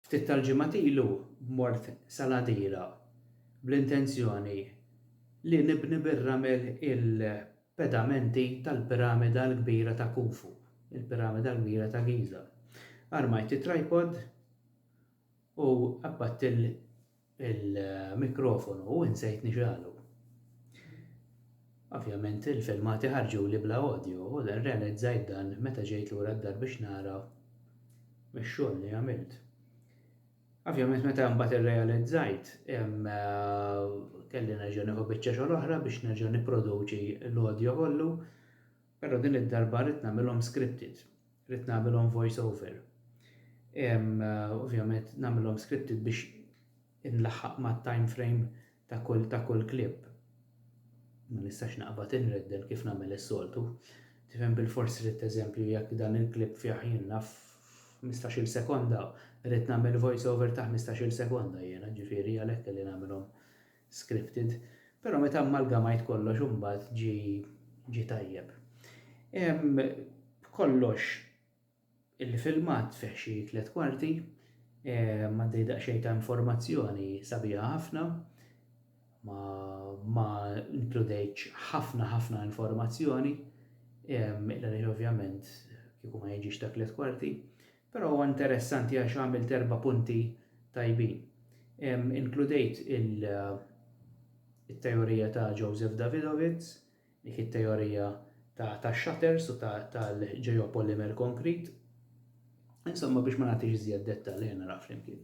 Ftit tal-ġimgħat ilu mort Saladira bl-intenzjoni li nibni bir-ramel il-pedamenti tal-Piramida l-Kbira ta' Khufu, il-Piramida l-Kbira ta' Giża. Armajt it-tripod U qabbadt il-mikrofonu u insejt nixgħalu. Ovvjament il-filmati ħarġuli bla audio u rrealizzajt dan meta ġejt lura d-dar biex nara x-xogħol li għamilt. Ovvjament meta mbagħad irrealizzajt kelli nerġa' nieħu biċċa xogħol oħra biex nerġa' nipproduċi l-audio kollu. Però din id-darba ridt nagħmilhom scripted. Ridt nagħmilhom voice over. Ovvjament nagħmilhom scripted biex inlaħħaq mat-time frame ta' kull ta' kull clip. Ma nistax naqbad inredden kif nagħmel is-soltu. Tifhem bilfors ridt eżempju jekk dan il-clip fih jien naf ħmistax-il sekonda, ridt nagħmel voice over ta' ħmistax-il sekonda jiena, ġifieri għalhekk kelli nagħmilhom scripted, però meta ammalgamajt kollox imbagħad ġie ġie tajjeb. Hemm b'kollox il-filmat fih xi tliet kwarti, għaddej daqsxejn ta' informazzjoni sabiħa ħafna, ma, ma inkludejtx ħafna ħafna informazzjoni, għaliex ovvjament kieku ma jiġix ta' tliet kwarti, Però huwa interessanti għax għamilt erba' punti tajbin. Inkludejt it-teorija ta' Joseph Davidovits, dik it-teorija tax-shutters u tal-geopolymer konkrit. Insomma biex ma nagħtix iżjed dettalji nara flimkien.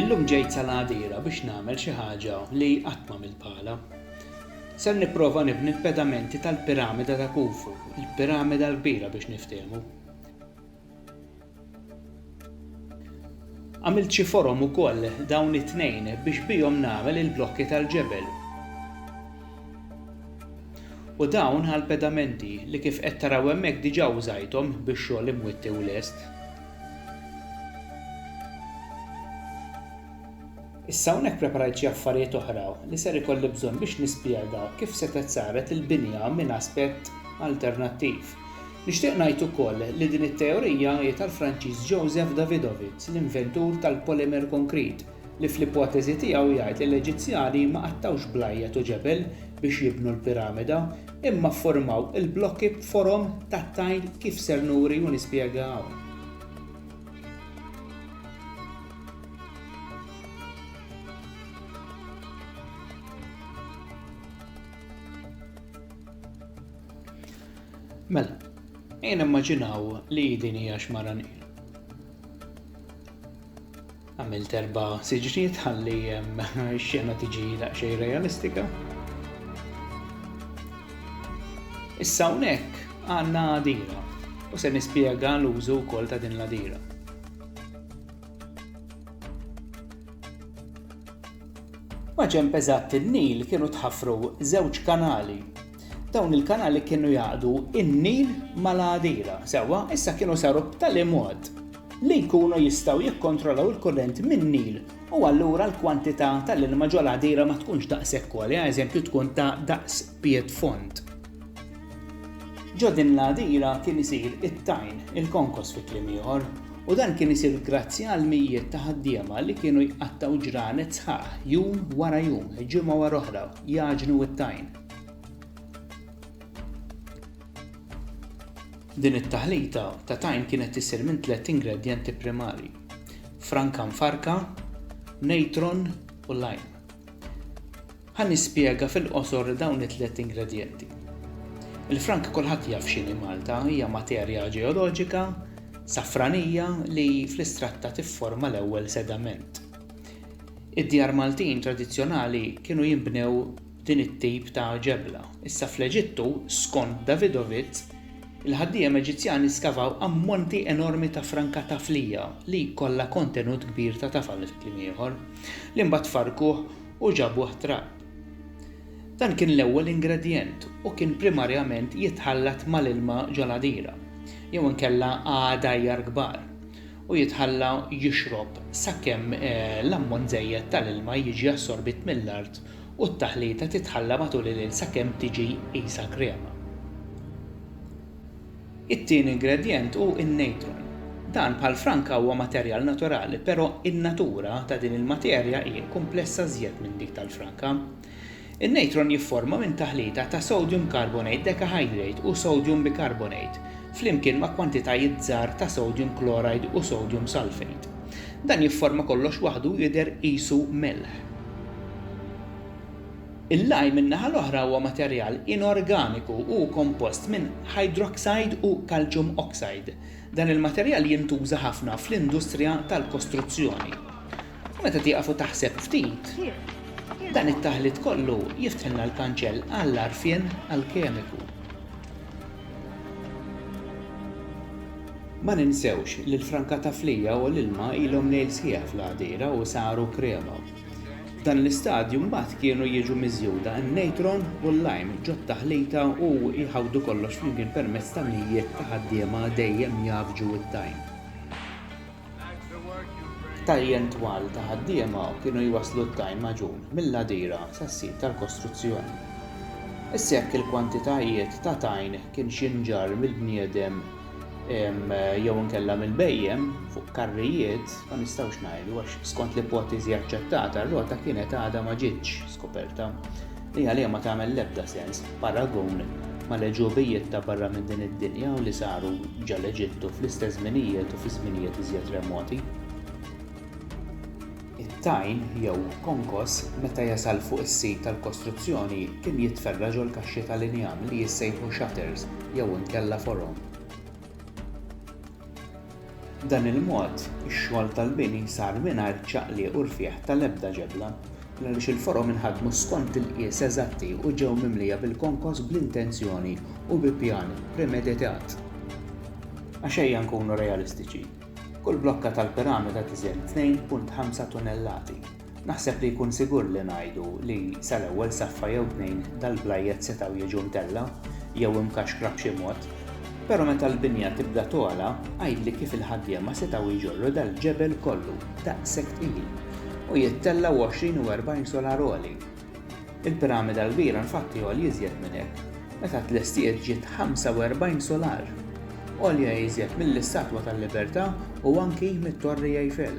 Illum ġejt sal-għadira biex nagħmel xi ħaġa li qatt m'għamilt bħalha. Ser nipprova nibni l-pedamenti tal-piramida ta' Khufu, il-piramida l-kbira biex niftehmu. Għamilt xi forom ukoll dawn it-tnejn biex bihom nagħmel il-blokki tal-ġebel. U dawn għall-pedamenti li kif qed taraw hemmhekk diġà użajthom bix-xogħol imwitti u lest. Issa hawnhekk preparajt xi affarijiet oħra li ser ikolli bżonn biex nispjega kif setgħet saret il-binja minn aspett alternattiv. Nixtieq ngħid ukoll li din it-teorija hi tal-Franċiż Joseph Davidovits, l-inventur tal-polimer konkrit, li fl-ipoteżi tiegħu jgħid li l-Eġizzjani ma qattgħux blajjat u ġebel biex jibnu l-piramida, imma fformaw il-blokki b'forom tat-tajn kif ser nuri u nispjega hawn. Mela, ejja nimmaġinaw li din hija xmara Nil. Għamilt erba' siġniet ħalli x-xena tiġi daqsxejn realistika. Issa hawnhekk għandna għadira u se nispjega l-użu wkoll ta' din l-għadira. Maġen peżat il-Nil kienu tħaffru żewġ kanali Dawn il-kanali kienu jaqdu in-Nil mal-Għadira, sewwa, issa kienu saru b'tali mod li jkunu jistgħu jikkontrollaw il-kurrent min-Nil u allura l-kwantità tal-ilma ġol Għadira ma tkunx daqshekk għolja, eżempju tkun ta' daqs pied fond. Ġo din l-Għadira kien isir it-tajn, il-konkos fi kliem ieħor, u dan kien isir grazzi għal mijiet ta' ħaddiema li kienu jqattgħu ġranet sħaħ jum wara jum, ġimgħa wara oħra, jagħġnu t-tajn. Din it-taħlita ta' tajn kienet isir minn tliet ingredjenti primarji, franka mfarrka, natron u lime. Ħa nispjega fil-qosor dawn it-tliet ingredjenti. Il-franka kulħadd jaf x'inhi Malta, hija materja ġeoloġika, safranija li fl-istratta tifforma l-ewwel sedament. Id-djar Maltin tradizzjonali kienu jinbnew din it-tip ta' ġebla. Issa fl-Eġittu, skont Davidovits, il-ħaddiem Eġizzjani skavaw ammonti enormi ta' franka taflija li kollha kontenut kbir ta' tafal, fi kliem ieħor, li mbagħad farrkuh u ġabuh trab. Dan kien l-ewwel ingredjent u kien primarjament jitħallat mal-ilma ġol-għadira, jew inkella għadajjar kbar, u jitħalla jixrob sakemm l-ammont żejjed tal-ilma jiġi assorbit mill-art u t-taħlita titħalla matul il-lejl sakemm tiġi qisha krema. It-tieni ingredjent hu n-natron. Dan bħal franka huwa materjal naturali però in-natura ta' din il-materja hi kumplessa żjed minn dik tal-franka. In-natron jifforma minn taħlita ta' sodium carbonate decahydrate u sodium bicarbonate flimkien ma' kwantitajiet żgħar ta' sodium chloride u sodium sulfate. Dan jifforma kollox waħdu u jidher qisu melħ. Il-lime min-naħa l-oħra huwa materjal inorganiku u hu kompost minn hydroxide u calcium oxide. Dan il-materjal jintuża ħafna fl-industrija tal-kostruzzjoni. Meta tieqaf u taħseb ftit, dan it-taħlit kollu jiftħilna l-kanċell għall-għarfien alkemiku. Ma ninsewx li l-franka ta' fliegħa u l-ilma ilhom lejl sħiħ fl-għadira u saru krema. F'dan l-istadju mbagħad kienu jiġu miżjuda n-natron u l-lime ġot-taħlita u jħawdu kollox flimkien permezz ta' mijiet ta' ħaddiema dejjem jgħaffġu t-tajn. Tajjen twal ta' ħaddiema kienu jwasslu t-tajn magħġun mill-għadira sas-sit tal-kostruzzjoni. Issa jekk il-kwantitajiet ta' tajn kien xinġar mill-bniedem jew inkella mill-bhejjem fuq karrijiet ma nistgħux ngħidu għax skont l-ipoteżi aċċettata r-rota kienet għadha ma ġietx skoperta. Li għaliha ma tagħmel l-ebda sens b'paragun mal-għeġubijiet ta' barra minn din id-dinja u li saru ġa l-Eġittu fl-istess żminijiet u fi żminijiet iżjed remoti. It-tajn, jew konkos, meta jasal fuq is-sit tal-kostruzzjoni kien jitferra' ġol-kaxxi tal-injam li jissejħu shutters jew inkella forom. B'dan il-mod, ix-xogħol tal-bini sar mingħajr ċaqliq u rfigħ tal-ebda ġebla, għaliex il-forom inħadmu skont il-qies eżatti u ġew mimlija bil-konkos bl-intenzjoni u bi pjan premeditat. Għax ejja nkunu realistiċi, kull blokka tal-piramida tiżen 2.5 tunnellati. Naħseb li jkun sigur li ngħidu li sal-ewwel saffa jew tnejn dal-blajjet setgħu jiġu mtellgħa jew imkaxkra b'xi mod, però meta l-binja tibda togħla għidli kif il-ħaddiema setgħu jġorru dal-ġebel kollu daqshekk tqil u jittellgħu għoxrin u erbgħin solar għoli? Il-piramida l-kbira infatti għolja iżjed minn hekk, meta tlestiet ġiet ħamsa u erbgħin solar! Għolja iżjed mill-Istatwa tal-Libertà u anki mit-Torri Eiffel.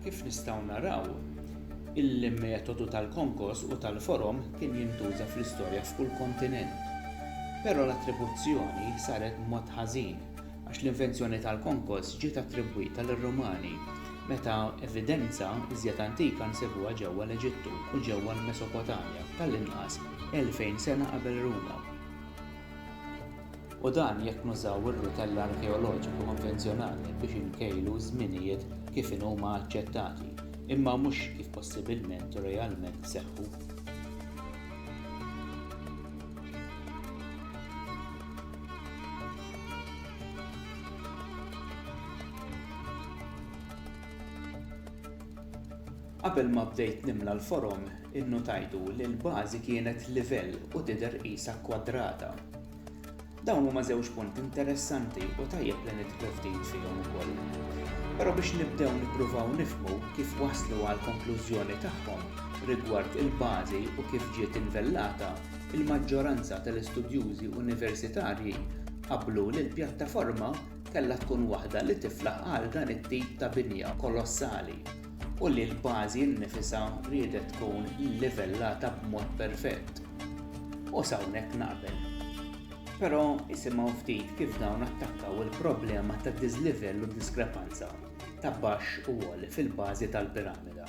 Kif nistgħu naraw, il-metodu tal-konkos u tal-forom kien jintuża fl-istorja f'kull kontinent. Però l-attribuzzjoni saret b'mod ħażin għax l-invenzjoni tal-konkos ġiet attribwita lir-Rumani, meta evidenza iżjed antika nsibuha ġewwa l-Eġittu u ġewwa l-Mesopotamja, tal-inqas 2,000 sena qabel Ruma. U dan jekk nużaw ir-rutell arkeoloġiku konvenzjonali biex inkejlu ż-żminijiet kif inhuma aċċettati, imma mhux kif possibilment u realment seħħu. Qabel ma bdejt nimla l-forom, innutajtu li l-bażi kienet livell u tidher qisha kkwadrata. Dawn huma żewġ punti interessanti u tajjeb li nidħlu ftit fihom ukoll. Però biex nibdew nippruvaw nifhmu kif waslu għall-konklużjoni tagħhom rigward il-bażi u kif ġiet invellata, Il-maġġoranza tal-istudjużi universitarji qablu li l-pjattaforma kellha tkun waħda li tiflaħ għal dan it-tip ta' binja kolossali u li l-bażi nnifisha riedet tkun llivellata b'mod perfett. U s'hawnhekk naqbel. Però isimgħu ftit kif dawn attakkaw il-problema ta' diżlivell u diskrepanza ta' baxx u għoli fil-bażi tal-piramida.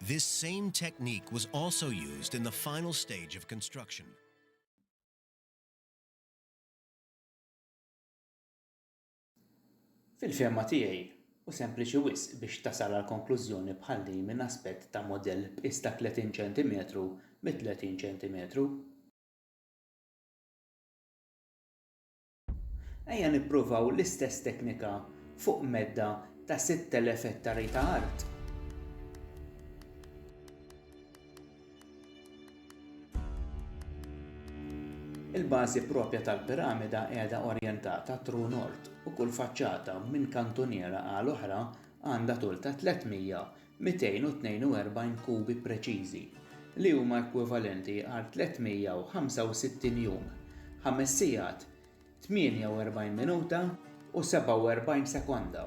This same technique was also used in the final stage of construction. Fil-fehma tiegħi, hu sempliċi wisq biex tasal għal konklużjoni bħal din minn aspett ta' mudell b'qies ta' 30 ċentimetru bi 30 ċentimetru. Ejja nippruvaw l-istess teknika fuq medda ta' 6,000 ettari ta' art. Il-bażi proprja tal-piramida qiegħda orjentata true north u kull faċċata minn kantuniera għal oħra għandha tul ta' 300 242 kubi preċiżi, li huma ekwivalenti għal 365 jum, ħames sigħat, 48 minuta u 47 sekonda.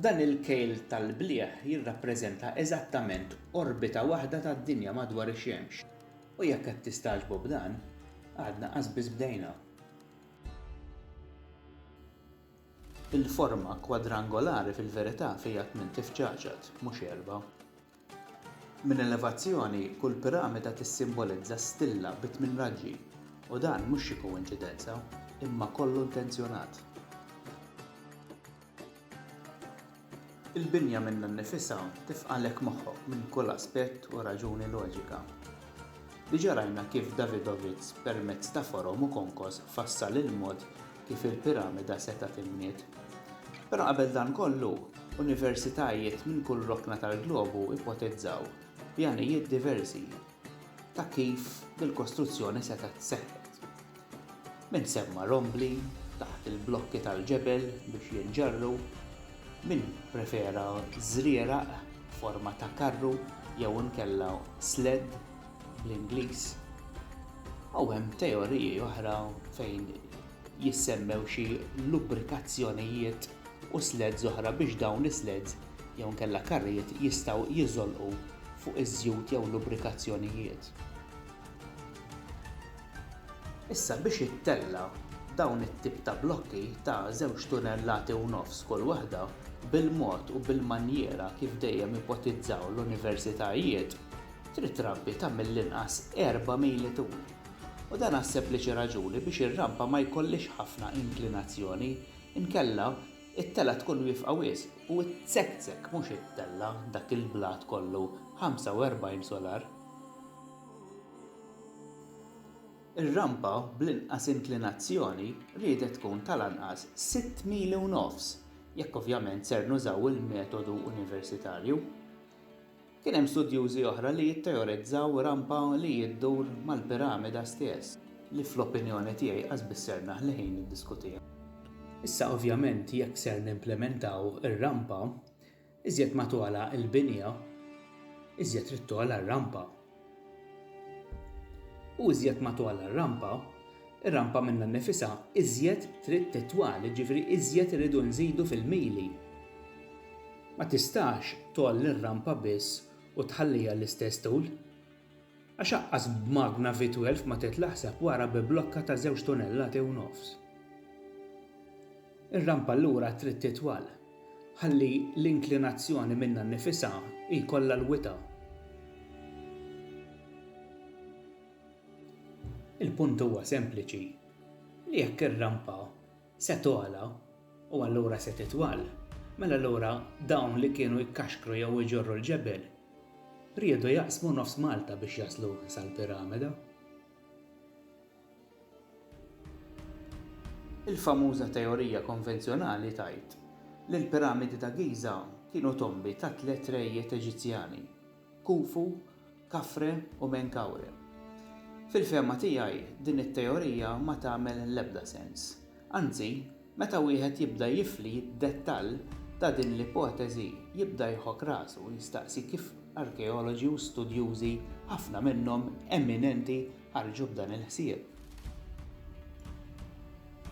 Dan il-kejl tal-blieh jirrappreżenta eżattament orbita waħda tad-Dinja madwar ix-Xemx. U jekk qed tistagħġbu b'dan, għadna qasbiss bdejna. Il-forma kwadrangolari fil-verità fiha tmien tifċaċat, mhux erbgħa. Minn elevazzjoni, kull piramida tissimbolizza stilla bi tmien raġġi, u dan mhux xi koinċidenza, imma kollu intenzjonat. Il-binja minnha nnifisha tifqagħlek moħħok minn kull aspett u raġuni loġika. Diġà rajna kif Davidovits permezz ta' forom u konkos fassal il-mod kif il-piramida setgħet inbniet. Però qabel dan kollu, universitajiet minn kull rokna tal-globu ipotezzaw, b'għanijiet diversi, ta' kif dil-kostruzzjoni setgħet seħħet. Min semma' rombli taħt il-blokki tal-ġebel biex jinġarru, min pprefera żrieraq b'forma ta' karru jew inkella sled bl-Ingliż, u hemm teoriji oħra fejn jissemmew xi lubrikazzjonijiet u sleds oħra biex dawn is-sleds jew inkella karrijiet jistgħu jiżolqu fuq iż-żjut jew lubrikazzjonijiet. Issa biex jittella' dawn it-tip ta' blokki ta' żewġ tunellati u nofs kull waħda, bil-mod u bil-manjiera kif dejjem ipotizzaw l-universitajiet, trid trampi ta' mill-inqas erba' mili tul. U dan għas-sempliċi raġuni biex ir-rampa ma jkollhiex ħafna inklinazzjoni, inkella, it-telgħa tkun wiefqa wisq u ttzekkzekk mhux ittella' dak il-blat kollu 45 solar. Ir-rampa bl-inqas inklinazzjoni riedet tkun tal-anqas sitt mili u nofs, jekk ovvjament ser nużaw il-metodu universitarju. Kien hemm studjużi oħra li jitteorizzaw rampa li iddur mal-piramida stess, li fl-opinjoni tiegħi qasbiss ser naħli ħin niddiskutiha. Issa ovvjament jekk ser nimplimentaw ir-rampa, Iżjed ma togħla l-binja, iżjed trid togħla r-rampa. U iżjed ma togħla r-rampa, ir-rampa minnha nnifisha iżjed trid titwal, jiġifieri iżjed irridu nżidu fil-mili. Ma tistax tgħolli r-rampa biss u tħalliha l-istess tul. Għax aqqas b'magna V12 ma tgħid l-aħseb wara bi blokka ta' żewġ tunellati u nofs. Ir-rampa lura trid titwal ħalli l-inklinazzjoni minnha nnifisha jkollha l-wita'. Il-punt huwa sempliċi li jekk ir-rampa Se togħla, u allura se titwal. Mela allura dawn li kienu jkaxkru jew iġorru l-ġebel, riedu jaqsmu nofs Malta biex jaslu sal-Piramida. Il-famuża teorija konvenzjonali tgħid li l-Piramidi ta' Giża kienu tombi ta' tliet rejiet Eġizzjani, Khufu, Khafre u Menkaure. Fil-fehma tiegħi, din it-teorija ma tagħmel l-ebda sens. Anzi, meta wieħed jibda jifli d-dettall ta' din l-ipoteżi jibda jħokk rasu u jistaqsi kif arkeoloġi u studjużi, ħafna minnhom eminenti, ħarġu b'dan il-ħsieb.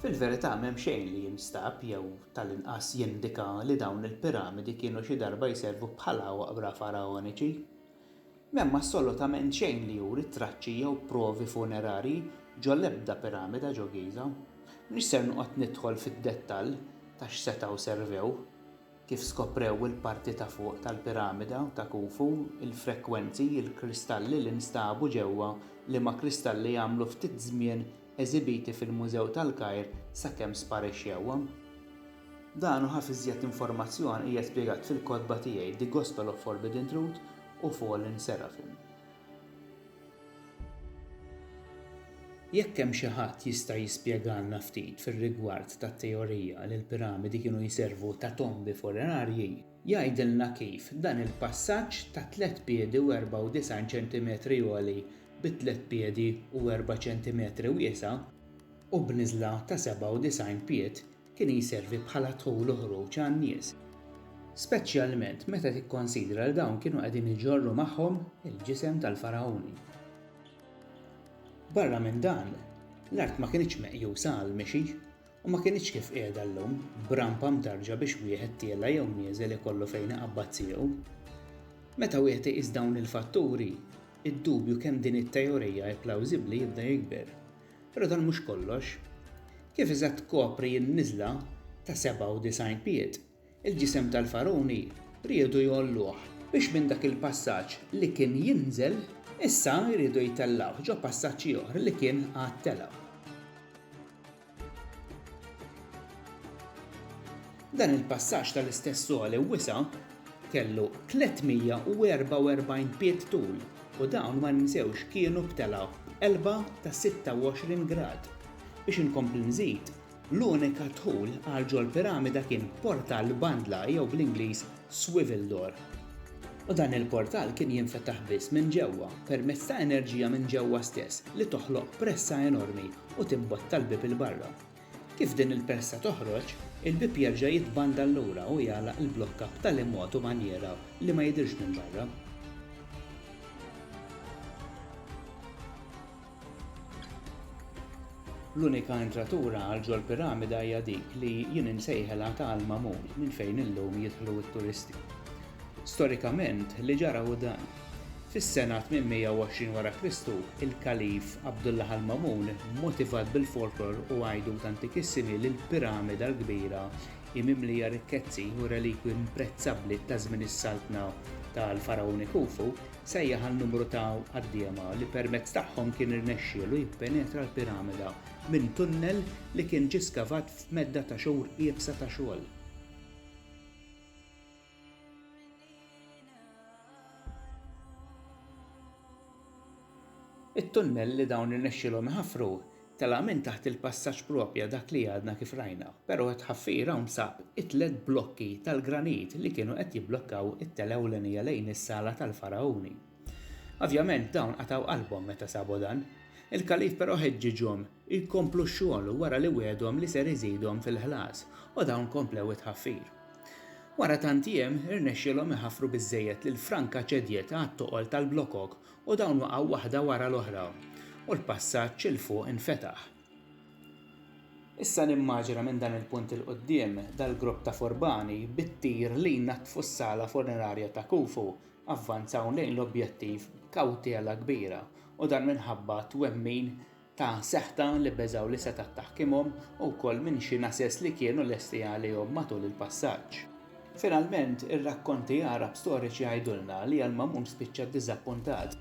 Fil-verità m'hemm xejn li jinstab jew tal-inqas jindika li dawn il-piramidi kienu xi darba jservu bħala oqbra faraoniċi. M'hemm assolutament xejn li juri traċċi jew provi funerarji ġol-ebda piramida ġo Giża. M'iniex ser noqgħod nidħol fid-dettall ta' x'setgħu servew, kif skoprew il-parti ta' fuq tal-piramida ta' Khufu, il-frekwenzi, il-kristalli li nstabu ġewwa, liema kristalli għamlu ftit żmien eżibiti fil-Mużew tal-Kajr sakemm sparixxewhom. Dan u ħafna iżjed informazzjoni hija spjegat fil-kotba tiegħi The Gospel of Forbidden Truth u Fallen Seraphim. Jekk hemm xi ħadd jista' jispjegalna ftit fir-rigward tat-teorija li l-piramidi kienu jservu ta' tombi funerarji, Jgħidilna kif dan il-passaġġ ta' tliet piedi u 94 ċentimetri għoli bi tliet piedi u erba' ċentimetri wiesa' u b'niżla ta' 97 pied kien jservi bħala dħul u ħruġ għan-nies, speċjalment meta tikkonsidra li dawn kienu qegħdin iġorru magħhom il-ġisem tal-Fargħuni. Barra minn dan, l-art ma kinitx meqjusa għall-mixi U ma kinitx kif qiegħda llum, b'rampa mdarġa biex wieħed tiela' jew nieżel ikollu fejn iqabbad siequ. Meta wieħed iqis dawn il-fatturi, id-dubju kemm din it-teorija hi plawżibbli jibda jikber. Però dan mhux kollox. Kif iżgħat tkopri n-niżla ta' 97 pied, il-ġisem tal-Fargħuni riedu jgħolluh, biex minn dak il-passaġġ li kien jinżel, issa jridu jtellgħuh ġo passaġġ ieħor li kien għad tela'. Dan il-passaġġ tal-istess għoli wisa' kellu 344 pied tul u dawn ma ninsewx kienu b'telgħa b'qelba ta' 26 grad. Biex inkompli nżid, l-unika dħul għal ġol-piramida kien b'portal bandla jew bl-Ingliż swivel door, u dan il-portal kien jinfetaħ biss minn ġewwa permezz ta' enerġija minn ġewwa stess li toħloq pressa enormi u timbotta l-bieb 'il barra. Kif din il-pressa toħroġ, il-bieb jerġa' jitbandal lura u jagħlaq il-blokka b'tali mod u manjiera li ma jidhirx minn barra. L-unika entratura għal ġol-piramida hija dik li jien insejħilha ta' l-magħmul minn fejn illum jidħlu t-turisti. Storikament, li ġara hu dan. Fis-sena 820 wara Kristu, il-Kalif Abdullah al-Mamun, motivat bil-folklor u għajdut antikissimi li l-piramida l-kbira hi mimlija rikkezzi u relikwi imprezzabbli taż-żmien is-saltna tal-Fargħuni Khufu, sejjaħ għal numru ta' ħaddiema li permezz tagħhom kien irnexxielu jippenetra l-piramida minn tunnel li kien ġie skavat f'medda ta' xhur iebsa ta' xogħol. It-tunnel li dawn irnexxielhom iħaffru Tela' minn taħt il-passaġġ proprja dak li għadna kif rajna, però t-tħaffir hawn sab it-tliet blokki tal-granit li kienu qed jibblokkaw it-tela' ewlenija lejn is-sala tal-Fargħuni. Ovvjament dawn qatgħu qalbhom meta sabu dan. Il-Kalif però ħeġġiġhom jkomplu x-xogħol wara li wiegħdhom li ser iżidhom fil-ħlas u dawn komplew it-tħaffir. Wara tant jiem, irnexxielhom iħaffru biżżejjed li l-franka ċedjet għat-toqol tal-blokok u dawn waqgħu waħda wara l-oħra u l-passaġġ 'il fuq infetaħ. Issa nimmaġina minn dan il-punt 'il quddiem dal-grupp ta' furbani bit-tir li jnaddfu s-sala funerarja ta' Khufu avvanzaw lejn l-objettiv b'kawtela kbira u dan minħabba twemmin ta' seħta li beżgħu li setgħet taħkimhom u wkoll minn xi nases li kienu lesti għalihom matul il-passaġġ. Finalment, ir-rakkonti Għarab storiċi jgħidulna li Al-Mamun spiċċa ddiżappuntat,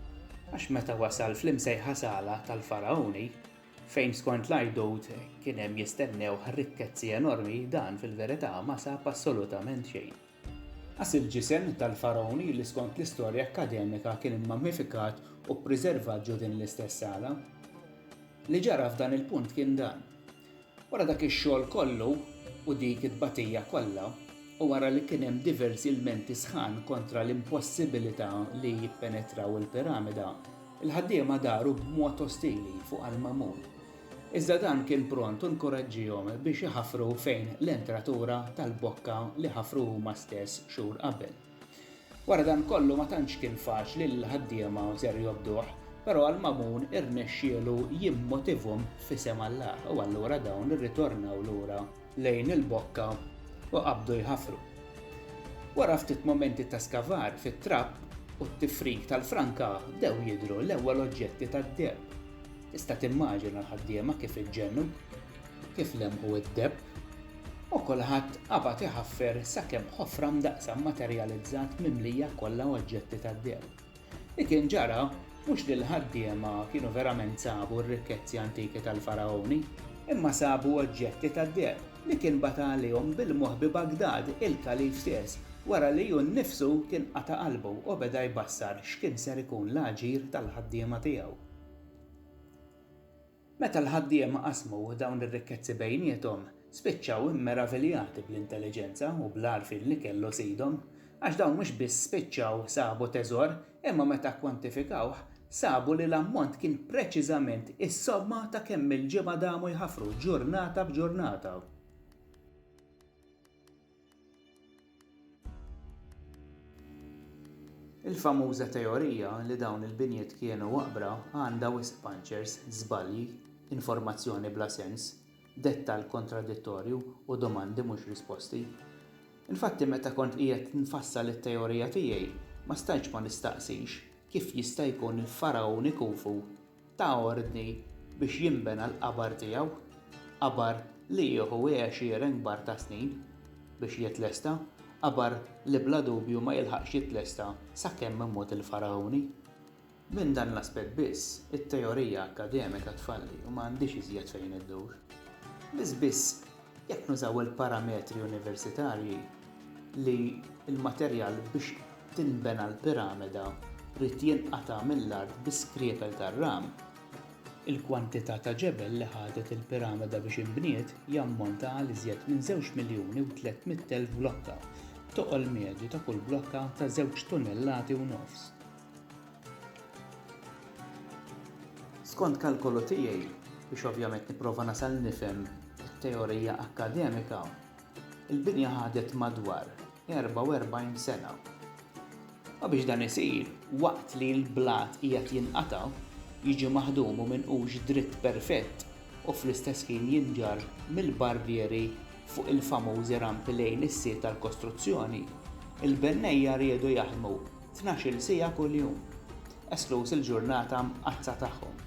għax meta wasal fl-imsejħa Sala tal-Fargħuni, fejn skont l-għidut kien hemm jistennewh rikkezzi enormi, dan fil-verità ma sab assolutament xejn. Qas il-ġisem tal-Fargħun li skont l-istorja akkademika kien immammifikat u ppriservat ġo din l-istess sala. Li ġara f'dan il-punt kien dan. Wara dak ix-xogħol kollu u dik it-tbatija kollha, u wara li kien hemm diversi ilmenti sħan kontra l-impossibilità li jippenetraw il-piramida, il-ħaddiema daru b'mod ostili fuq Al-Ma'mun. Iżda dan kien pront u nkuraġġihom biex iħaffru fejn l-entratura tal-bokka li ħafru huma stess xhur qabel. Wara dan kollu ma tantx kien faċli lill-ħaddiema u ser jobduh, però għal Mamun irnexxielu jimmotivhom f'isem Alla u allura dawn irritornaw lura lejn il-bokka u qabdu jħaffru. Wara ftit mumenti ta' skavar fit-trapp u t-tifrik tal-franka bdew jidhru l-ewwel oġġetti tad-deheb. Tista' timmaġina l-ħaddiema kif iġġennu, kif lemħu d-debb, u kulħadd qabad iħaffer sakemm ħofra mdaqqsa mmaterjalizzat mimlija kollha oġġetti tad-deheb. Li kien ġara mhux li l-ħaddiema kienu verament sabu r-rikkezzi antiki tal-Faragħuni, imma sabu oġġetti tad-deheb li kien bata għalihom bil-moħħ bi Bagdad, il-kalif stess, wara li hu nnifsu kien qata' qalbu u beda jbassar x'kien ser ikun l-aġir tal-ħaddiema tiegħu. Meta l-ħaddiema qasmu dawn ir-rikkezzi bejniethom, spiċċaw immeraviljati bl-intelliġenza u bl-għarfien li kellu sidhom, għax dawn mhux biss spiċċaw sabu teżor, imma meta kkwantifikawh, sabu li l-ammont kien preċiżament is-somma ta' kemm-il ġimgħa damu jħaffru ġurnata b'ġurnata. Il-famuża teorija li dawn il-binjiet kienu waqbra għandha wisq panċers, żbalji, informazzjoni bla sens, dettall kontradittorju u domandi mhux risposti. Infatti meta kont qiegħed nfassal it-teorija tiegħi ma stajtx ma nistaqsix kif jista' jkun il-Fargħuni Khufu ta ordni biex jinbena l-qabar tiegħu, qabar li jieħu għexieren kbar ta' snin biex jitlesta, qabar li bla dubju ma jilħaqx jitlesta sakemm imut il-Faragħuni. Minn dan l-aspett biss, it-teorija akkademika tfalli u ma għandhiex iżjed fejn iddur. Biss biss Jekk nużaw il-parametri universitarji li l-materjal biex tinbena l-piramida jrid jinqata' mill-art bi skriepel tar-ram, il-kwantità ta' ġebel li ħadet il-piramida biex inbniet jammonta għal iżjed minn żewġ miljuni u tlett mitt elf blokka, b'toqol medju ta' kull blokka ta' żewġ tunnellati u nofs. Skont kalkolu tiegħi, biex ovvjament nipprova nasal nifhem it-teorija akkademika, il-binja ħadet madwar 44 sena. U biex dan isir, waqt li l-blat qiegħed jinqata', jiġi maħdum u minqux dritt perfett u fl-istess ħin jinġarr mill-barrieri fuq il-famużi rampi lejn is-sit tal-kostruzzjoni, il-bennejja riedu jaħdmu tnax-il siegħa kuljum, eskluż il-ġurnata Mqaddsa tagħhom.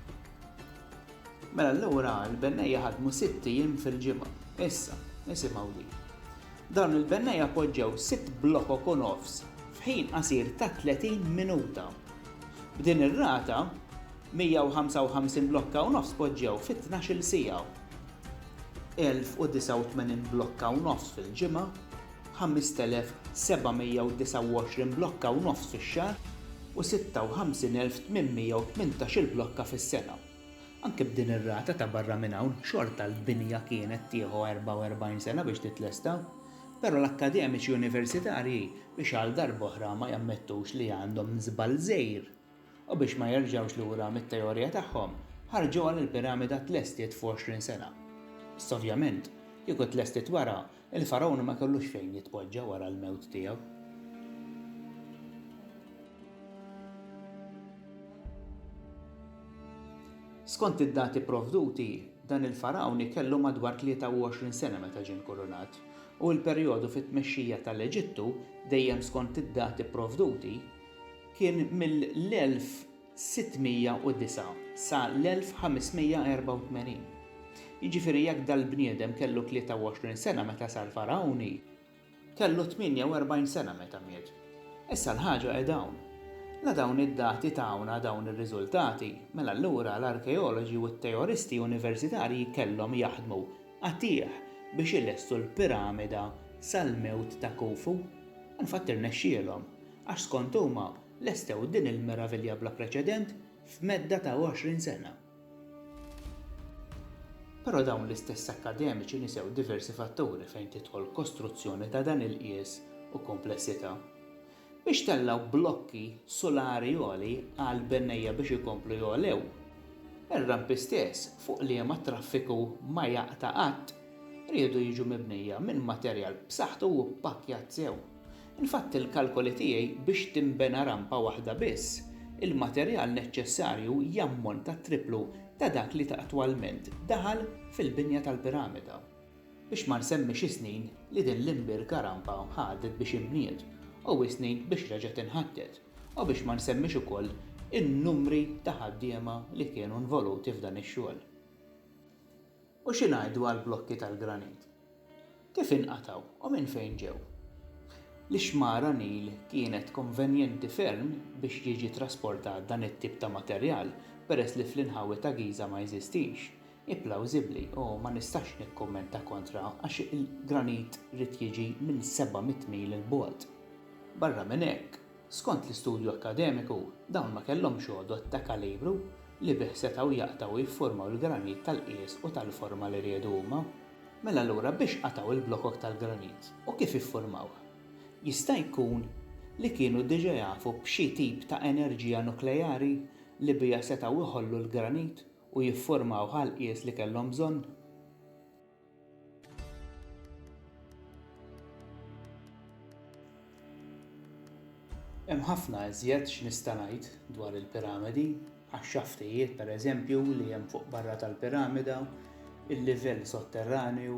Mela allura l-bennejja ħadmu sitt ijiem fil-ġimgħa. Issa, isimgħu din. Dawn il-bennejja poġġew sitt blokok u nofs f'ħin qasir ta' 30 minuta. B'din ir-rata, 155 blokka u nofs poġġew fi tnax-il siegħa. 1,089 blokka u nofs fil-ġimgħa 5,729 blokka u nofs fix-xahar u 56,818-il blokka fis-sena. Anke b'din ir-rata ta' barra minn hawn, xorta l-binja kienet tieħu 44 sena biex titlesta. Però l-akkademiċi universitarji biex għal darb'oħra ma jammettux li għandhom żball żgħir, U biex ma jerġgħux lura mit-teorija tagħhom, ħarġuha li l-piramida tlestiet f'għoxrin sena. Issa ovvjament, kieku tlestiet wara, il-Fargħun ma kellux fejn jitpoġġa wara l-mewt tiegħu. Skont id-dati pprovduti, dan il-Fargħun kellu madwar 23 sena meta ġie nkurunat, u l-perjodu fit-tmexxija tal-Eġittu, dejjem skont id-dati pprovduti, kien mill-1609 sa l-1584. Jiġifieri jekk dal-bniedem kellu 23 sena meta sar Fargħuni, kellu 48 sena meta miet. Issa l-ħaġa qiegħda hawn. La dawn id-dati tawna dawn ir-riżultati, mela allura l-arkeoloġi u t-teoristi universitarji kellhom jaħdmu qatigħ biex ilestu l-piramida sal-mewt ta' Khufu. Unfatt irnexxielhom. Għax skont huma, lestew din il-meravilja bla preċedent f'medda ta' 20 sena. Però dawn l-istess akkademiċi nisew diversi fatturi fejn tidħol kostruzzjoni ta' dan il-qies u komplessità. Biex tellgħu blokki sulari għoli għal bennejja biex ikomplu jogħlew, ir-rampi stess fuq liema t-traffiku ma jaqta' qatt riedu jiġu mibnija minn materjal b'saħħtu u ppakkjat sew. Infatti il-kalkoli tiegħi biex tinbena rampa waħda biss, il-materjal neċċessarju jammonta t-tripplu ta' dak li attwalment daħal fil-binja tal-piramida. Biex ma nsemmix is-snin li din l-imbierka rampa ħadet biex inbniet u is-snin biex reġgħet inħattet u biex ma nsemmix ukoll in-numri ta' ħaddiema li kienu nvoluti f'dan ix-xogħol. U xi ngħidu għall-blokki tal-granit? Kif inqatgħu u minn fejn ġew? L-ixmara Nil kienet konvenjenti ferm biex jiġi trasportat dan it-tip ta' materjal peress li fl-inħawi ta' Giża ma jeżistix. Hi plawżibbli u ma nistax nikkummenta kontra għax il-granit ried jiġi minn 700 mil 'il bogħod. Barra minn hekk, Skont l-istudju akkademiku, dawn ma kellhomx għodod ta' kalibru li bih setgħu jaqtgħu u jifformaw il-granit tal-qies u tal-forma li riedu huma. Mela allura biex qatgħu l-blokok tal-granit u kif iffurmawh? Jista' jkun li kienu diġa jafu b'xi tip ta' enerġija nukleari li biha setgħu jħollu l-granit u jifformawh għall-qies li kellhom bżonn? Hemm ħafna iżjed x'nista' ngħid dwar il-piramidi, għax-xaftijiet, pereżempju, li hemm fuq barra tal-piramida, il-livell sotterranju,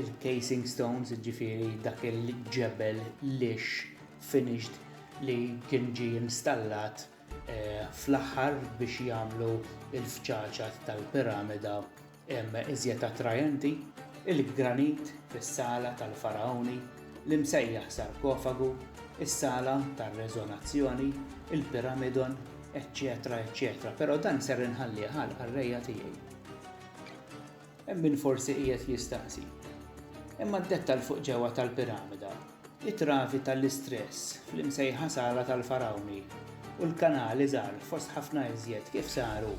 il-casing stones, ġifiri dak il-ġebel lix finished li kien ġie installat eh, fl-aħħar biex jagħmlu l-fċaċat tal-piramida iżjed attrajenti, il-granit fis-sala tal-faraoni, l-imsejjaħ sarkofagu, is-sala tar-reżonazzjoni, il-piramidon, eċċetera eċċetera, però dan ser inħallih għal qarrejja tiegħi. Hemm min forsi qiegħed jistaqsi. Imma d-dettall fuq ġewwa tal-piramida, it-travi tal-istress fl-imsejħa sala tal-farawni u l-kanali żgħar fost ħafna iżjed kif saru.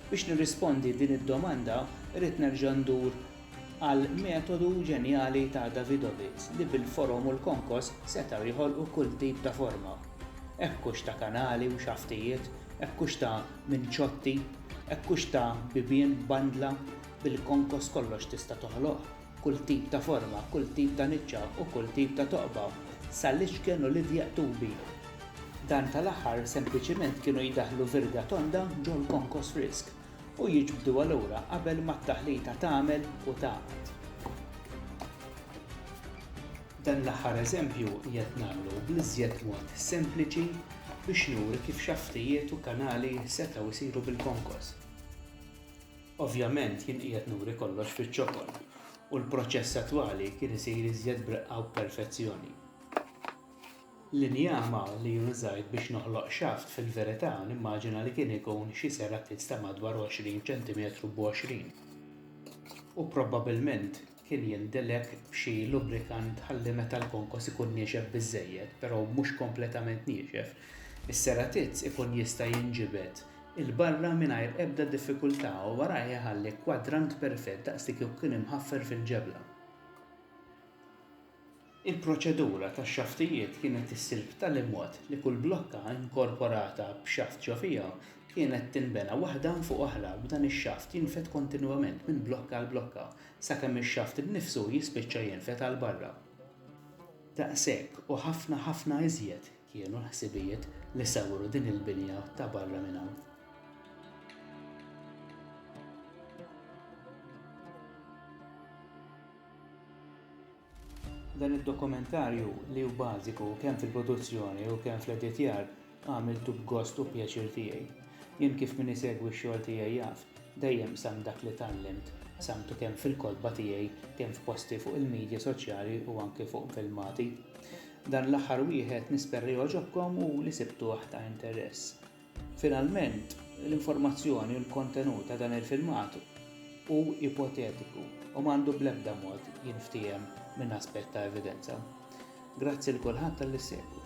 Biex nirrispondi din id-domanda, irrid nerġa' ndur għal metodu ġenjali ta' Davidovits li bil-forom u l-konkos setgħu jħolqu kull tip ta' forma, hekk hux ta' kanali u xaftijiet, hekk hux ta' minċotti, hekk hux ta' bibien b'bandla, bil-konkos kollox tista' toħloq, kull tip ta' forma, kull tip ta' niċċa u kull tip ta' toqba, sal-iċken u l-idjaq tubi. Dan tal-aħħar sempliċiment kienu jdaħħlu virga tonda ġol-konkos frisk. u jiġbduha lura qabel ma t-taħlita tagħmel u tagħqad. Dan l-aħħar eżempju qiegħed nagħmlu bl-iżjed mod sempliċi biex nuri kif xaftijiet u kanali setgħu jsiru bil-konkos. Ovvjament jien qiegħed nuri kollox fiċ-ċokon u l-proċess attwali kien isir iżjed b'reqqa u b'perfezzjoni. L-injama li użajt biex noħloq xaft fil-verità nimmaġina li kien ikun xi serapit ta' madwar 20 ċentimetru b'għoxrin u probabilment kien jindilek b'xi lubrikant ħalli meta l-konkos ikun niexef biżżejjed però mhux kompletament niexef, is-seratiz ikun jista' jinġibed 'il barra mingħajr ebda diffikultà u warajh iħalli kwadrant perfett daqs li kieku kien imħaffer fil-ġebla. Il-proċedura tax-xaftijiet kienet issir b'tali mod li kull blokka inkorporata b'xaft ġo fiha kienet tinbena waħda fuq oħra b'dan ix-xaft jinfed kontinwament minn blokka għal blokka sakemm ix-xaft innifsu jispiċċa jinfed għal barra. Daqshekk u ħafna ħafna iżjed kienu l-ħsibijiet li sawwru din il-binja ta' barra minn hawn. Dan id-dokumentarju, li hu bażiku kemm fil-produzzjoni u kemm fl-editjar, għamiltu b'gost u pjaċir tiegħi. Jien kif min isegwi x-xogħol tiegħi jaf, dejjem qsamt dak li tgħallimt, qsamtu kemm fil-kotba tiegħi, kemm f'posti fuq il-midja soċjali u anke fuq filmati. Dan l-aħħar wieħed nisperra jogħġobkom u li sibtuh ta' interess. Finalment, l-informazzjoni u l-kontenut ta' dan il-filmat hu ipotetiku u m'għandu bl-ebda mod jinftiehem minn aspett ta' evidenza. Grazzi 'l kulħadd talli ssegwu.